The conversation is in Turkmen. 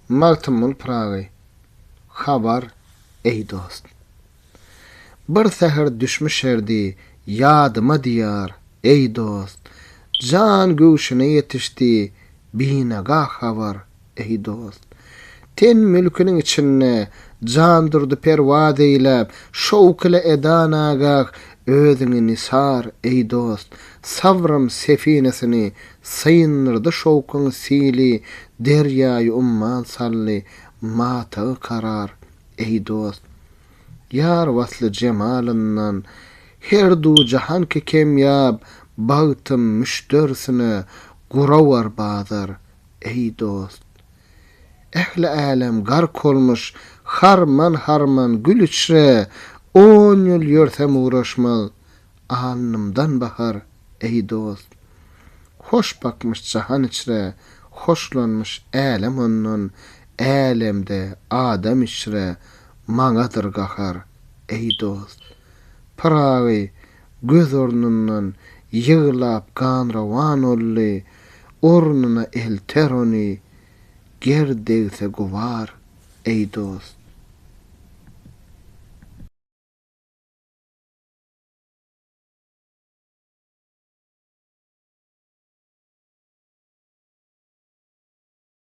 Magtymguly Pyragy Habar, eý dost! Bir säher düşmüşerdi ýadyma diýar, eý dost! Jan göwşüne ýetişdi binagah habar, Eý dost! Ten mülküniň içinde Jandurdy perwaz eýläp, şowk ile edan agah özüňi nisar, eý dost! Sabrym sefinesini syndyrdy şowkuň sili derýaýy umman saldy matagy karar, eý dost! Ýar wasly jemalyndan her du jahan ki kemýap bagtym müşderisine gurawar bazar, Eý dost! Ähli älem gark olmuş, Harman-harman gül içre, On ýyl ýörsem ugraşmaz, Alnymdan bahar, eý dost! Hoş bakmyş jahan içre, Hoşlanmyş älem ondan, Älemde adam içre, Maňadyr gahar, eý dost! Pyragy, göz ornundan ýyglap ganrawan olly, ornuna elter ony, ger degse gubar, eý dost.